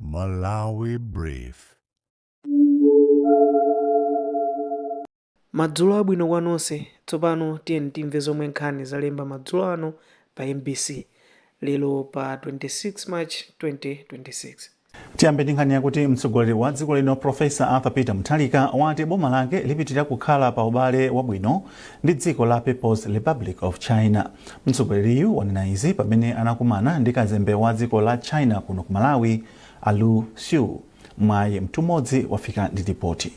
Malawi Brief. Madzulo abwino kwa nonse. Tsopano tiyeni timve zomwe nkhani zalemba madzulo ano pa mbc lero pa 26 March 2026. Tiyambe ndi nkhani yakuti mtsogoleri wa dziko lino Professor Arthur Peter Mutharika wati boma lake lipitirira kukhala pa ubale wabwino ndi dziko la People's Republic of China. Mtsogoleriyu wanena izi pamene anakumana ndi kazembe wa dziko la China kuno ku Malawi a Lu Xu. Mwayi Mtumodzi wafika ndi lipoti.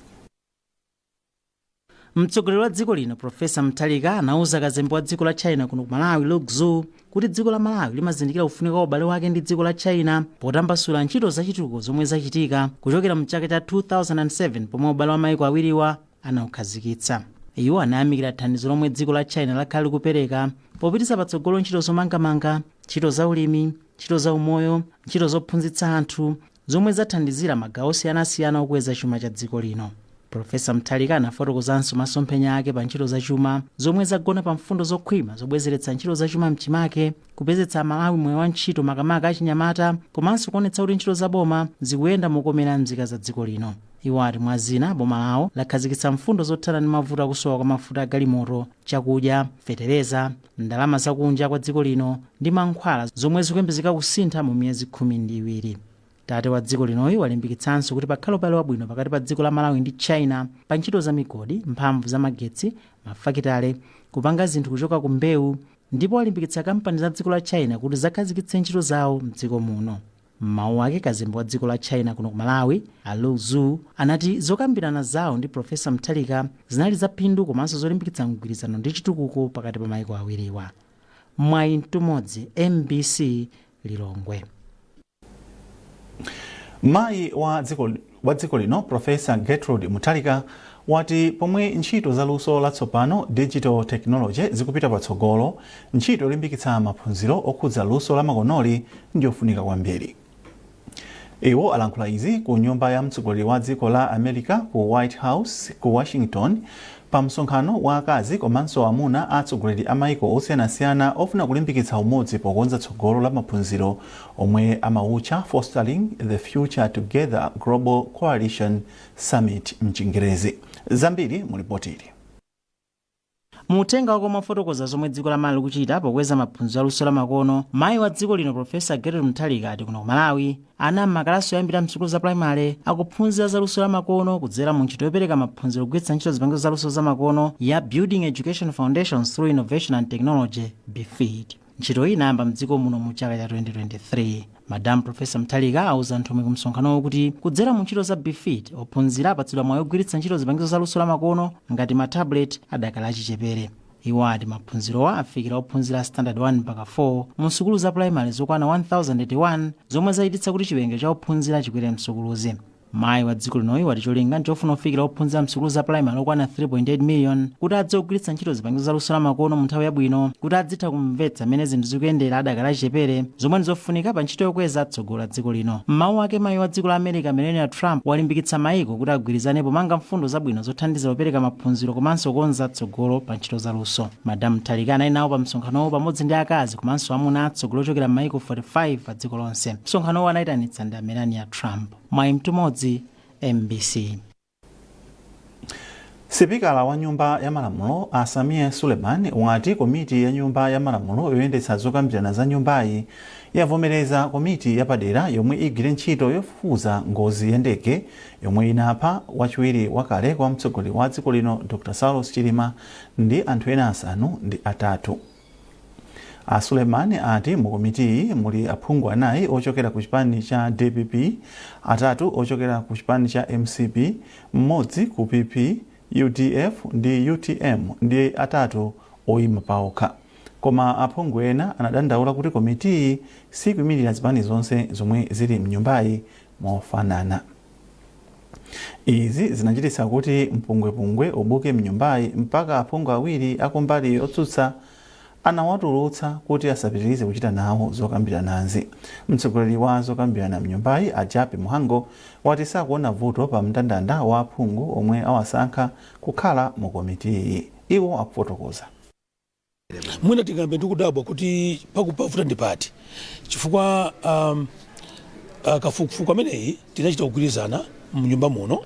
Mtsogoleri wa dziko lino Professor Mutharika anauza kazembe wa dziko la China kuno ku Malawi Lu Xu kuti dziko la Malawi limazindikira kufunika kwa ubale wake ndi dziko la China potambasula ntchito zachitukuko zomwe zachitika kuchokera mchaka cha 2007 pomwe ubale wa maiko awiriwa anaukhazikitsa. Iwo anayamikira thandizo lomwe dziko la China lakhala likupereka popititsa patsogolo ntchito zomangamanga, ntchito za ulimi, ntchito za umoyo, ntchito zophunzitsa anthu, zomwe zathandizira magawo osiyanasiyana okweza chuma cha dziko lino. Pulofesa Mutharika anafotokozanso masomphenya ake pa ntchito za chuma zomwe zagona pa mfundo zokhwima zobwezeretsa ntchito za chuma mchimake, kupezetsa Amalawi mwayi wa ntchito makamaka achinyamata komanso kuonetsa kuti ntchito za boma zikuyenda mokomera nzika za dziko lino. Iwo ati mwa zina, boma lawo lakhazikitsa mfundo zothana ndi mavuto a kusowa kwa mafuta a galimoto, chakudya, fetereza, ndalama za kunja kwa dziko lino ndi mankhwala zomwe zikuyembezeka kusintha mu miyezi khumi ndi iwiri. Tate wa dziko linoyu walimbikitsanso kuti pakhale ubale wabwino pakati pa dziko la Malawi ndi China pa ntchito za migodi, mphamvu za magetsi, mafakitale, kupanga zinthu kuchoka ku mbewu ndipo walimbikitsa kampani za dziko la China kuti zakhazikitse ntchito zawo mdziko muno. M'mawu ake kazembe wa dziko la China kuno ku Malawi a Lu Xu anati zokambirana zawo ndi Professor Mutharika zinali za phindu komanso zolimbikitsa mgwirizano ndi chitukuko pakati pa maiko awiriwa. Mwayi Mtumodzi, mbc, Lilongwe. Mayi wa dziko lino Professor Gertrude Mutharika wati pomwe ntchito za luso la tsopano, Digital Technology, zikupita patsogolo, ntchito yolimbikitsa maphunziro okhudza luso la makonoli ndiyofunika kwambiri. Iwo alankhula izi ku nyumba ya mtsogoleri wa dziko la America ku White House ku Washington pa msonkhano wa akazi komanso amuna a atsogoleri a maiko osiyanasiyana ofuna kulimbikitsa umodzi pokonza tsogolo la maphunziro omwe amautcha Fostering the Future Together Global Coalition Summit m'Chingerezi. Zambiri mu lipotili. Mu uthenga wake omwe afotokoza zomwe dziko la Malawi likuchita pokweza maphunziro a luso la makono, mayi wa dziko lino Profesa Gertrude Mutharika ati kuno ku Malawi ana m'makalasi oyambira msukulu za primary akuphunzira za luso la makono kudzera mu ntchito yopereka maphunziro kugwiritsa ntchito zipangizo za luso za makono ya Building Education Foundations through Innovation and Technology, BEFIT. Ntchito iyi inayamba mdziko muno mu chaka cha 2023. Madam Prof Mutharika awuza nthumwi ku msonkhanowo kuti kudzera mu ntchito za Befit, ophunzira apatsidwa mwayi ogwiritsa ntchito zipangizo za luso la makono ngati ma tablet adakali achichepere. Iwo ati maphunzirowa afikira ophunzira a standard 1 mpaka 4 mu sukulu za pulayimale zokwana 1081 zomwe zachititsa kuti chiwerengero cha ophunzira chikwere msukuluzi. Mayi wa dziko linoyi wati cholinga nchofuna kufikira ophunzira msukulu za primary okwana 3.8 million kuti adzigwiritsa ntchito zipangizo za luso la makono mu nthawi yabwino kuti adzitha kumvetsa mmene zinthu zikuyendera adakali achichepere zomwe ndi zofunika pa ntchito yokweza tsogolo la dziko lino. M'mawu ake mayi wa dziko la America Melania Trump walimbikitsa mayiko kuti agwirizane pomanga mfundo zabwino zothandiza kupereka maphunziro komanso kukonza tsogolo pa ntchito za luso. Madam Mutharika anali nawo pa msonkhanowo pamodzi ndi akazi komanso amuna a atsogoleri ochokera m'mayiko 45 pa dziko lonse. Msonkhanowo anayitanitsa ndi Melania Trump. Mwayi Mtumodzi, mbc. Sipikala wa nyumba ya malamulo a Sameer Suleman wati komiti ya nyumba ya malamulo yoyendetsa zokambirana za nyumbayi yavomereza komiti yapadera yomwe igwire ntchito yofufuza ngozi ya ndege yomwe inapha wachiwiri wakale kwa mtsogoleri wa dziko lino Dr. Saulos Chilima ndi anthu ena asanu ndi atatu. A Suleman ati mu komitiyi muli aphungu anayi ochokera ku chipani cha dpp, atatu ochokera ku chipani cha mcp, mmodzi ku PP, udf ndi utm ndi atatu oyima paokha. Koma aphungu ena anadandaula kuti komitiyi siikuimilira zipani zonse zomwe zili mnyumbayi mofanana. Izi zinachititsa kuti mpungwepungwe ubuke mnyumbayi mpaka aphungu awiri akumbali otsutsa anawatulutsa kuti asapitilize kuchita nawo zokambiranazi. Mtsogoleri wa zokambirana mnyumbayi a Jappie Mhango wati sakuona vuto pa mndandanda wa aphungu omwe awasankha kukhala mu komitiyi. Iwo akufotokoza. mwina tingoyamba ndikudabwa kuti pakuvuta ndi pati chifukwa um, uh, kafukufuku ameneyi tinachita kugwirizana mnyumba muno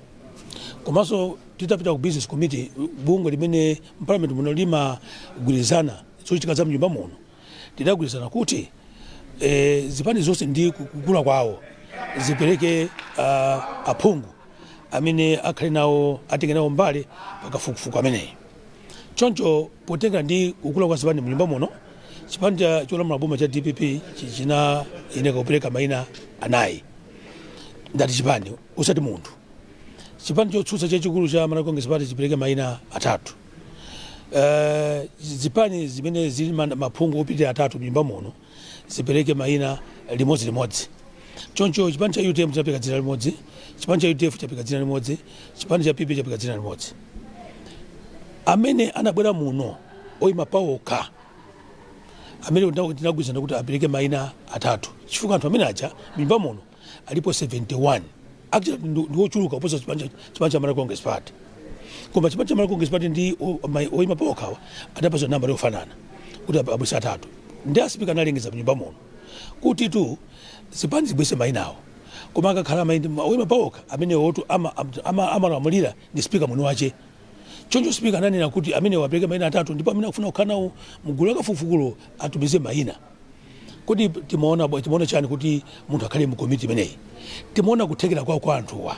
komanso titapita ku business committee bungwe limene mparliament muno limagwirizana zochitika za mnyumba muno tidagwirizana kuti eh, zipani zonse ndi kukula kwawo zipereke uh, aphungu amene akhale nawo atenge nawo mbali pakafukufuku ameneyi Choncho potengera ndi kukula kwa zipani mnyumba muno, chipani cholamula boma cha dpp chinayeneka kupereka maina anayi ndati chipani osati munthu. Chipani chotsutsa chachikulu cha Malawi Congress Party chipereke maina atatu. Eh, zipani zimene zili ma- maphungu opitirira atatu mnyumba muno zipereke mayina limodzilimodzi choncho chipani cha utm chapereka dzina limodzi chipani cha udf chapereka dzina limodzi chipani cha pp chapereka dzina limodzi amene anabwera muno oyima paokha amene tinagwirizana kuti apereke mayina atatu chifukwa anthu amene aja mnyumba muno alipo 71 actually ndi- ndi ochuluka kuposa chipani cha chipani cha Malawi Congress Party koma chipani cha Malawi Congress Party ndi o- mai- oyima pa okhawa adapatsa nambala yofanana kuti ab- abweretse atatu ndi asipika analengeza mnyumba muno kuti tu zipani zibweretse mayinawo koma akakhala maindi oyima pa okha amene otu ama- am- ama- amalamulira ndi sipika mwini wache choncho sipika ananena kuti amenewa apereke mayina atatu ndipo amene akufuna kukhala nawo mgulu la kafukufukulo atumize mayina Kodi timaona bwa- timaona chani kuti munthu akhale mu komiti imeneyi? Timaona kuthekera kwawo kwa anthuwa.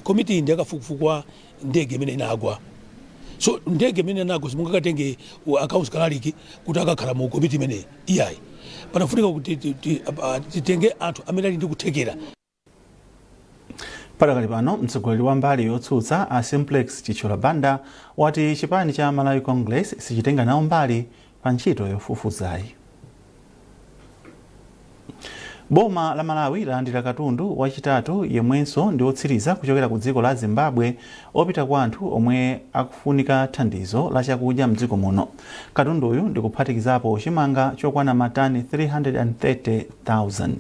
Komiti iyi ndi yakafukufuku wa ndege imene inagwa. So ndege imene inagwa simungakatenge wa- accounts kalaliki kuti akakhale mu komiti imeneyi. Iyayi. Panafunika kuti ti- ti- apa- titenge anthu amene ali ndi kuthekera padakali pano mtsogoleri wa mbali yotsutsa a simplex chithyola banda wati chipani cha malawi congress sichitenga nawo mbali pa ntchito yofufuzayi boma la malawi lalandira katundu wachitatu yemwenso ndi wotsiriza kuchokera ku dziko la zimbabwe opita kwa anthu omwe akufunika thandizo la chakudya mdziko muno katunduyu ndikuphatikizapo chimanga chokwana matani 330,000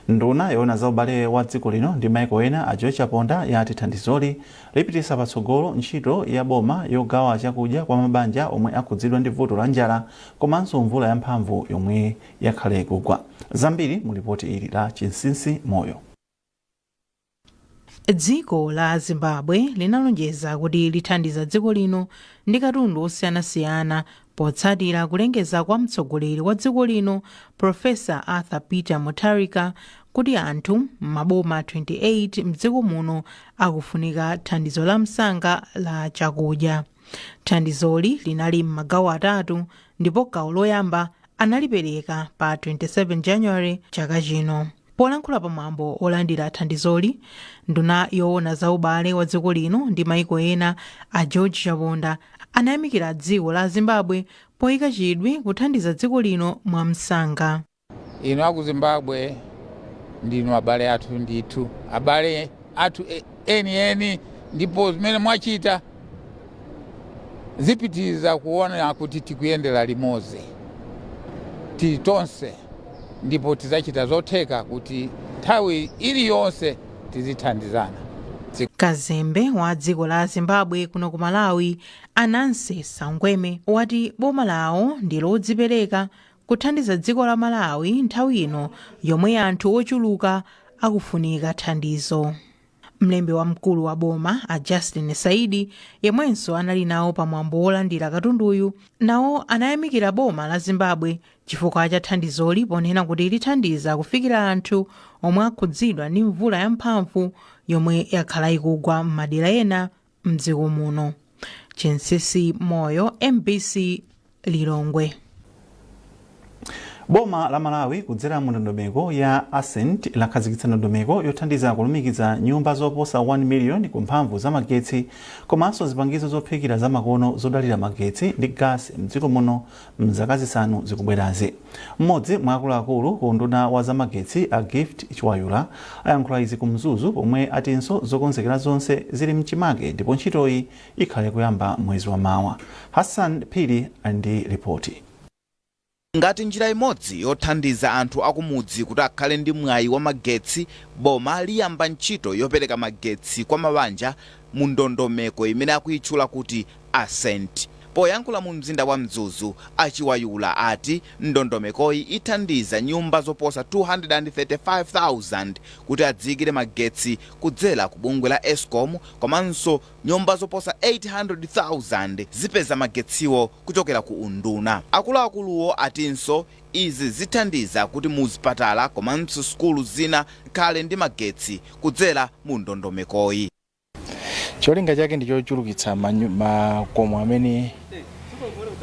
Nduna yoona za ubale wa dziko lino ndi maiko ena a George Chaponda yati thandizoli lipititsa patsogolo ntchito ya boma yogawa chakudya kwa mabanja omwe akhudzidwa ndi vuto la njala komanso mvula ya mphamvu yomwe yakhala ikugwa. Zambiri mu lipoti ili la Chinsinsi Moyo. dziko la zimbabwe linalonjeza kuti lithandiza dziko lino ndi katundu osiyanasiyana potsatira kulengeza kwa mtsogoleri wa dziko lino profesa arthur peter mutharika kuti anthu m'maboma 28 mdziko muno akufunika thandizo la msanga la chakudya thandizoli linali m'magawo atatu ndipo gawo loyamba analipereka pa 27 january chaka chino polankhula pa mwambo olandira thandizoli nduna yoona za ubale wa dziko lino ndi maiko ena a george chaponda anayamikira dziko la zimbabwe poyika chidwi kuthandiza dziko lino mwamsanga Inu aku Zimbabwe ndinu abale athu ndithu, abale athu eni eni ndipo zimene mwachita zipitiriza kuona kuti tikuyendera limodzi tili tonse ndipo tidzachita zotheka kuti nthawi iliyonse tizithandizana. Kazembe wa dziko la Zimbabwe kuno ku Malawi, a Nancy Saungweme, wati boma lawo ndi lodzipereka kuthandiza dziko la Malawi nthawi ino yomwe anthu ochuluka akufunika thandizo. Mlembi wamkulu wa boma a Justin Saidi yemwenso anali nawo pa mwambo wolandira katunduyu nawo anayamikira boma la Zimbabwe chifukwa cha thandizoli ponena kuti lithandiza kufikira anthu omwe akhudzidwa ndi mvula yamphamvu yomwe yakhala ikugwa m'madera ena mdziko muno chinsinsi moyo mbc lilongwe boma la malawi kudzera mu ndondomeko ya ascent lakhazikitsa ndondomeko yothandiza kulumikiza nyumba zoposa 1 miliyoni ku mphamvu za magetsi komanso zipangizo zophikira zamakono zodalira magetsi ndi gasi mdziko muno M'zaka zisanu zikubwerazi. M'modzi mwa akuluakulu ku unduna wa zamagetsi a Gift Chiwayula ayankhula izi ku Mzuzu pomwe atinso zokonzekera zonse zili mchimake ndipo ntchitoyi ikhale kuyamba mwezi wa mawa. Hassan Phiri ali ndi lipoti. Ngati njira imodzi yothandiza anthu akumudzi kuti akhale ndi mwayi wa magetsi, boma liyamba ntchito yopereka magetsi kwa mabanja mu ndondomeko imene akuitchula kuti Ascent. Poyankhula mu mzinda wa Mzuzu, a Chiwayula ati ndondomekoyi ithandiza nyumba zoposa 235,000 kuti adziikire magetsi kudzera ku bungwe la Escom komanso nyumba zoposa 800,000 zipeza magetsiwo kuchokera ku unduna. Akuluakuluwo atinso Izi zithandiza kuti mu zipatala komanso sukulu zina zikhale ndi magetsi kudzera mu ndondomekoyi. Cholinga chake ndi chochulukitsa makomo amene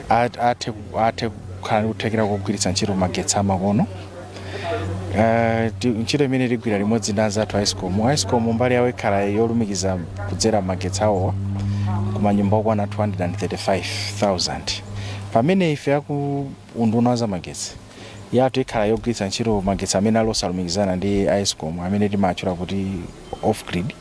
athe kukhala ndi kuthekera kogwiritsa ntchito magetsi amakono. Ntchito imeneyi tigwira limodzi ndi anzathu a Escom. A Escom mbali yawo ikhala yolumikiza kudzera magetsi awowa ku manyumba okwana 235,000 pamene ife aku Unduna wa zamagetsi, yathu ikhala yogwiritsa ntchito magetsi amene ali osalumikizana ndi a escom amene timaatchula kuti off grid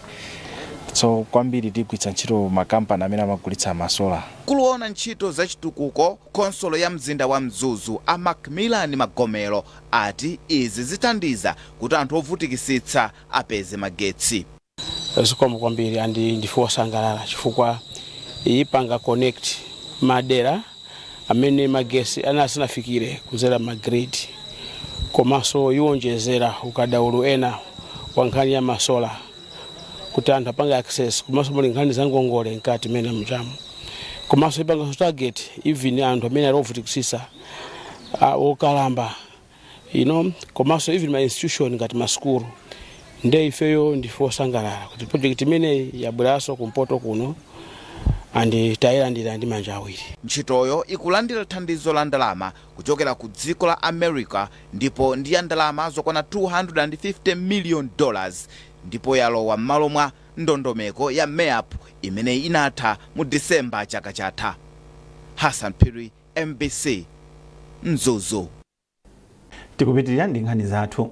so kwambiri tigwiritsa ntchito makampani amene amagulitsa ma solar. Mkulu woona ntchito za chitukuko ku khonsolo ya mzinda wa Mzuzu a Macmillan Magomero ati izi zithandiza kuti anthu ovutikisitsa apeze magetsi. zikomo kwambiri and ndife osangalala chifukwa ipanga connect madera amene magesi ana asanafikire kudzera magrid komanso iwonjezera ukadaulo ena wa nkhani ya masola kuti anthu apange access komanso muli nkhani za ngongole mkati mene mchamo komanso ipanganso target even anthu amene ali ovutikisisa ah, okalamba you know komanso even ma institution ngati masukulu nde ifeyo ndife osangalala kuti project imeneyi yabweranso kumpoto kuno and tayilandira ndi manja awiri ntchitoyo ikulandira thandizo la ndalama kuchokera ku dziko la america ndipo ndi ya ndalama zokwana 250 million dollars ndipo yalowa m'malo mwa ndondomeko ya MERP imene inatha mu disemba chaka chatha hassan phiri Mbc Mzuzu. Tikupitilira ndi nkhani zathu.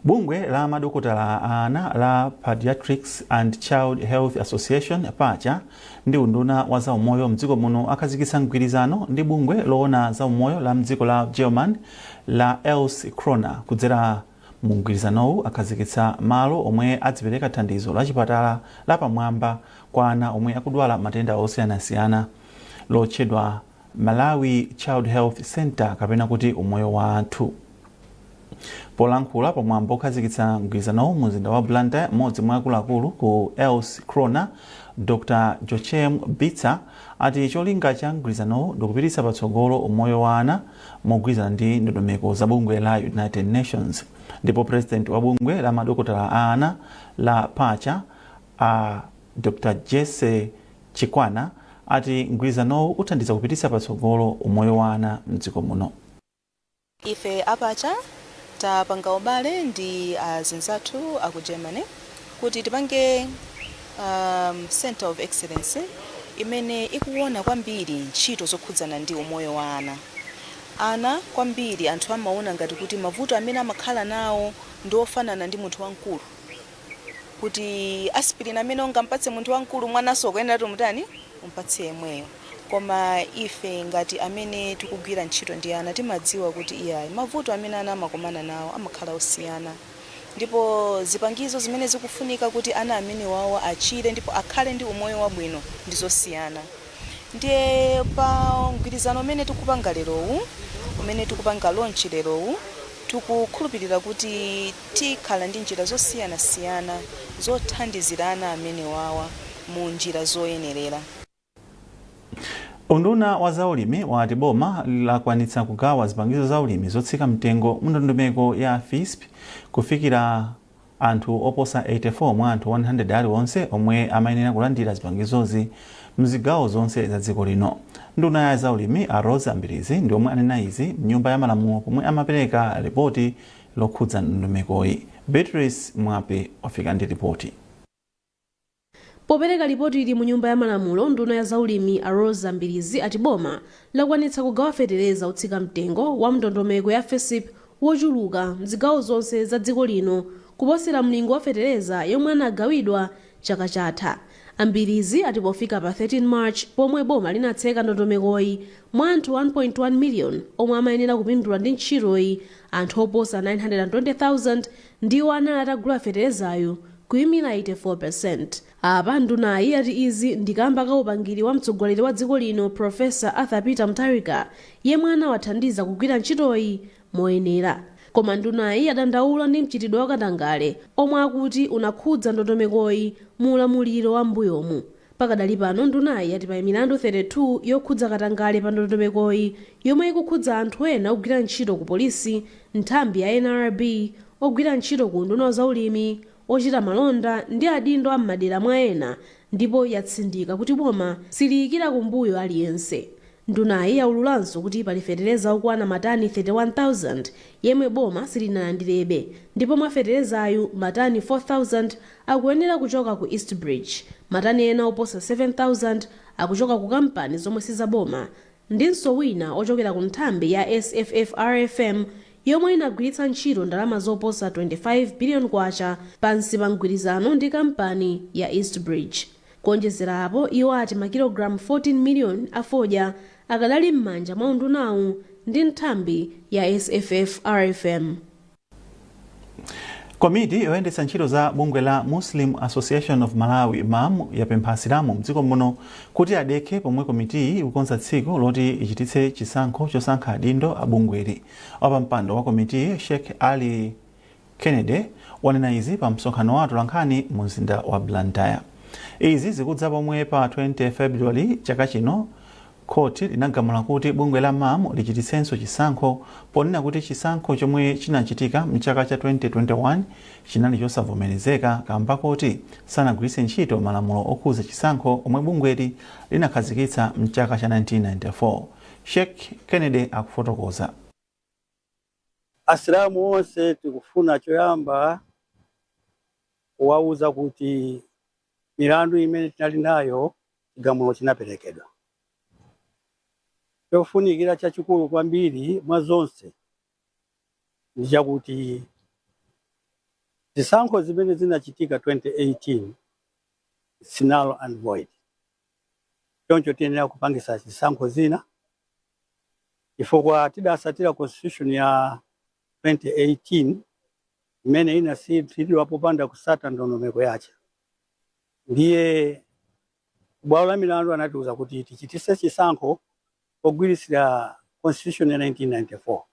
Bungwe la madokotala a ana la Paediatrics and Child Health Association, Pacha, ndi unduna wa za umoyo mdziko muno akhazikitsa mgwirizano ndi bungwe loona za umoyo la mdziko la German la Else Kröner. Kudzera mu mgwirizanowu akhazikitsa malo omwe adzipereka thandizo la chipatala la pamwamba kwa ana omwe akudwala matenda osiyanasiyana lotchedwa Malawi Child Health Centre kapena kuti Umoyo Wathu. Polankhula pa mwambo okhazikitsa mgwirizanowu mu mzinda wa Blantyre, m'modzi mwa akuluakulu ku Else Kröner, Dr Jochen Bitzer, ati cholinga cha mgwirizanowu ndikupititsa patsogolo umoyo wa ana mogwirizana ndi ndondomeko za bungwe la United Nations. Ndipo President wa bungwe la madokotala a ana la Pacha, A Dr Jessie Chikwana ati mgwirizanowu uthandiza kupititsa patsogolo umoyo wa ana mdziko muno. Ife a Pacha tapanga ubale ndi azinzathu a ku Germany kuti tipange Centre of Excellence imene ikuwona kwambiri ntchito zokhudzana ndi umoyo wa ana. Ana kwambiri anthu amawona ngati kuti mavuto amene amakhala nawo ndi ofanana ndi munthu wamkulu. kuti aspirin amene ungampatse munthu wamkulu mwananso ukuyenera kuti umutani umpatse yemweyo koma ife ngati amene tikugwira ntchito ndi ana timadziwa kuti iyayi mavuto amene ana amakomana nawo amakhala osiyana ndipo zipangizo zimene zikufunika kuti ana amenewawo achire ndipo akhale ndi umoyo wabwino ndi zosiyana ndiye pa mgwirizano umene tikupanga lerowu umene tikupanga launch lerowu tikukhulupirira kuti Tikhala ndi njira zosiyanasiyana zothandizira ana amenewawa mu njira zoyenerera. Unduna wa za ulimi wati boma lakwanitsa kugawa zipangizo za ulimi zotsika mtengo mu ndondomeko ya Fisp kufikira anthu oposa 84 mwa anthu 100 aliwonse omwe amayenera kulandira zipangizozi mzigawo zonse za dziko lino. Nduna ya za ulimi a Roza Mbilizi ndi omwe anena izi mnyumba ya malamulo pomwe amapereka lipoti lokhudza ndondomekoyi. Beatrice Mwape wafika ndi lipoti. Popereka lipotili mu nyumba ya malamulo, nduna ya za ulimi a Roza Mbirizi ati boma lakwanitsa kugawa fetereza otsika mtengo wa mndondomeko ya FISP wochuluka mzigawo zonse za dziko lino kuposera mlingo wa fetereza yomwe anagawidwa Chaka chatha, a Mbirizi ati pofika pa 13 March pomwe boma linatseka ndondomekoyi, mwa anthu 1.1 million omwe amayenera kupindula ndi ntchitoyi, anthu oposa 920,000 ndiwo anali atagula feterezayu kuyimira 84%. Apa ndunayi ati izi ndi kamba ka upangiri wa mtsogoleri wa dziko lino Prof. Arthur Peter Mutharika yemwe anawathandiza kugwira ntchitoyi moyenera. Koma ndunayi yadandaula ndi mchitidwe wa katangale omwe akuti unakhudza ndondomekoyi mu ulamuliro wa m'mbuyomu. Pakadali pano ndunayi yati pali milandu 32 yokhudza katangale pa ndondomekoyi yomwe ikukhudza anthu ena ogwira ntchito ku polisi, nthambi ya NRB, ogwira ntchito ku unduna wa zaulimi, ochita malonda ndi adindo a m'madera mwa ena ndipo yatsindika kuti boma siliyikira kumbuyo aliyense. Ndunayi yaululanso kuti pali fetereza okwana matani 31,000 yemwe boma silinalandirebe ndipo mwa feterezayu, matani 4,000 akuyenera kuchoka ku East Bridge, matani ena oposa 7,000 akuchoka ku kampani zomwe sizaboma ndinso wina ochokera ku nthambi ya SFFRFM yomwe inagwiritsa ntchito ndalama zoposa 25 billion kwacha pansi pa mgwirizano ndi kampani ya East Bridge. Kuonjezera apo, iwo ati makilogalamu 14 miliyoni a fodya akadali m'manja mwa undunawu ndi nthambi ya SFFRFM. Komiti yoyendetsa ntchito za bungwe la Muslim Association of Malawi, MAM, yapempha Asilamu m'dziko muno kuti adekhe pomwe komitiyi ikukonza tsiku loti ichititse chisankho chosankha adindo a bungweli. Wapampando wa komitiyi, Sheikh Ali. Kennedy wanena izi pa msonkhano wa atolankhani mu mzinda wa Blantyre. Izi zikudza pomwe pa 20 February chaka chino khothi linagamula kuti bungwe la MAM lichititsenso chisankho ponena kuti chisankho chomwe chinachitika mchaka cha 2021 chinali chosavomerezeka kamba koti sanagwiritse ntchito malamulo okhudza chisankho omwe bungweli linakhazikitsa mchaka cha 1994. Sheikh Kennedy akufotokoza. Asilamu onse tikufuna choyamba kuwauza kuti milandu imene tinali nayo chigamulo chinaperekedwa. Chofunikira chachikulu kwambiri mwa zonse ndi chakuti zisankho zimene zinachitika 2018 its null and void. choncho tiyenera kupangisa zisankho zina chifukwa tidasatira constitution ya 2018 imene inatsatiridwa popanda kusata ndondomeko yace ndiye kubwalo la milandu anatiuza kuti tichitise chisankho pogwirisira constitution ya 1994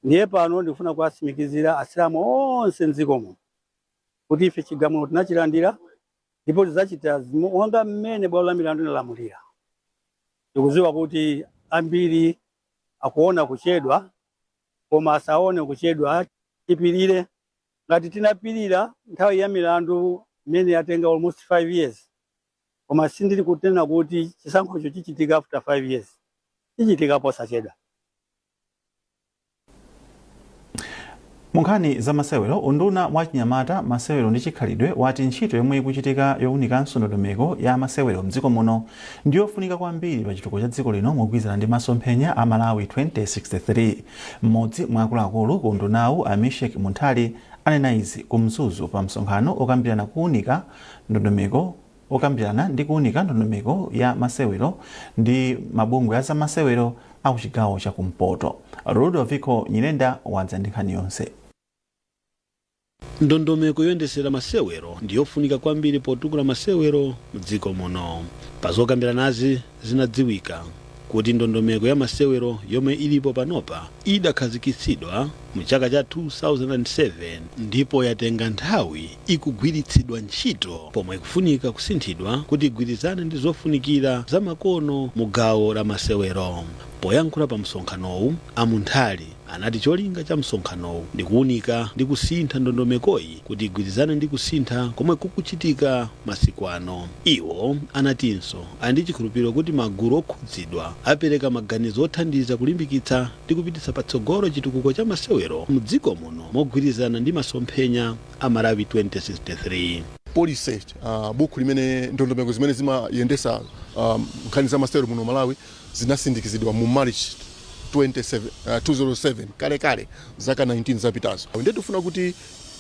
ndiye pano ndikufuna kuwatsimikizira asilamu onse mdziko muno kuti ife chigamulo tinachilandira ndipo tidzachita monga mmene bwalo la milandu linalamulira. Tikudziwa kuti ambiri akuona kuchedwa, koma asaone kuchedwa, tipirire. Ngati tinapirira nthawi ya milandu imene yatenga almost 5 years, koma sindili kunena kuti chisankhocho chichitika after 5 years, chichitika posachedwa. Munkhani za masewero, unduna wa achinyamata, masewero ndi chikhalidwe wati ntchito yomwe ikuchitika yowunikanso ndondomeko ya masewero mdziko muno ndi yofunika kwambiri pa chitukuko cha dziko lino mogwirizana ndi masomphenya a Malawi 2063. Mmodzi mwa akuluakulu ku undunawu, a Misheck Munthali, anena izi ku Mzuzu pa msonkhano okambirana kuwunika ndondomeko Okambirana ndi kuunika ndondomeko ya masewero ndi mabungwe a zamasewero a ku chigawo cha kumpoto, Ludoviko Nyirenda wadza ndi nkhani yonse. Ndondomeko yoyendesera masewero ndi yofunika kwambiri potukula masewero mdziko muno. Pa zokambiranazi, zinadziwika kuti ndondomeko ya masewero yomwe ilipo panopa idakhazikitsidwa mu chaka cha 2007 ndipo yatenga nthawi ikugwiritsidwa ntchito pomwe ikufunika kusinthidwa kuti igwirizane ndi zofunikira za makono mu gawo la masewero. Poyankhula pa msonkhanowu, a Munthali anati cholinga cha msonkhanowu ndi kuwunika ndi kusintha ndondomekoyi kuti igwirizane ndi kusintha komwe kukuchitika masiku ano. Iwo anatinso Ali ndi chikhulupiriro kuti magulu okhudzidwa apereka maganizo othandiza kulimbikitsa ndi kupititsa patsogolo chitukuko cha masewero mdziko muno mogwirizana ndi masomphenya a Malawi 2063. policy buku limene ndondomeko zimene zimayendesa nkhani za masewero muno Malawi zinasindikizidwa mu March 2007 kale kale zaka 19 zapitazo ndiye tikufuna kuti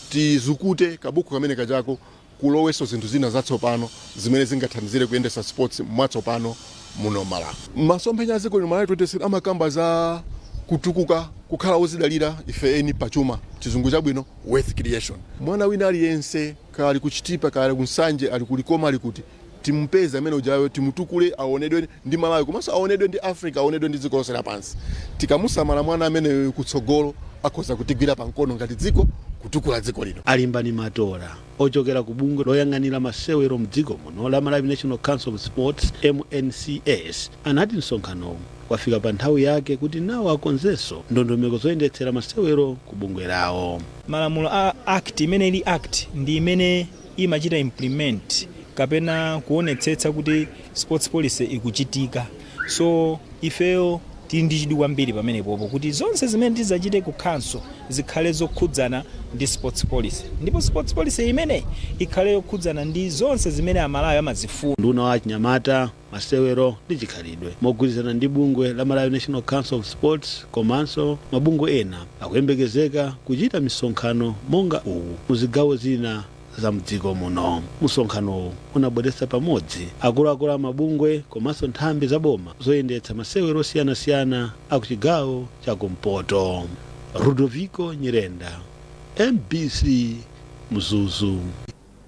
tizukute kabuku kamene kajako tilowetsemo zinthu zina zatsopano zimene zingathandizire kuyendesa sports mwatsopano muno Malawi. Masomphenya a dziko lino, Malawi 2063, amakamba za kutukuka, kukhala ozidalira ife eni pa chuma, chizungu chabwino, wealth creation. Mwana wina aliyense, kaya ali ku Chitipa, kaya ali ku Nsanje, ali ku Likoma, ali kuti, Timupeze amene ujayo, timutukule aonedwe ndi Malawi komanso aonedwe ndi Africa, aonedwe ndi dziko lonse lapansi. Tikamusamala mwana ameneyoyo kutsogolo akhoza kutigwira pa mkono ngati dziko kutukula dziko lino. A Limbani Matola, ochokera ku bungwe loyang'anira masewero m'dziko muno la Malawi National Council of Sports, MNCS, anati msonkhanowu wafika pa nthawi yake kuti nawo akonzenso ndondomeko zoyendetsera masewero ku bungwe lawo. Malamulo a act imene ili act ndi imene. imachita implement kapena kuonetsetsa kuti sports policy ikuchitika so ifeyo tili ndi chidwi kwambiri pamenepopo kuti zonse zimene tizachite ku council zikhale zokhudzana ndi sports policy ndipo sports policy imeneyi ikhale yokhudzana ndi zonse zimene amalawi amazifuna. Unduna wa achinyamata, masewero ndi chikhalidwe mogwirizana ndi bungwe la Malawi National Council of Sports komanso mabungwe ena akuyembekezeka kuchita misonkhano monga uwu mu zigawo zina za mdziko muno msonkhanowu unabweretsa pamodzi akuluakulu a mabungwe komanso nthambi za boma zoyendetsa masewero osiyanasiyana a ku chigawo cha kumpoto rudoviko nyirenda mbc mzuzu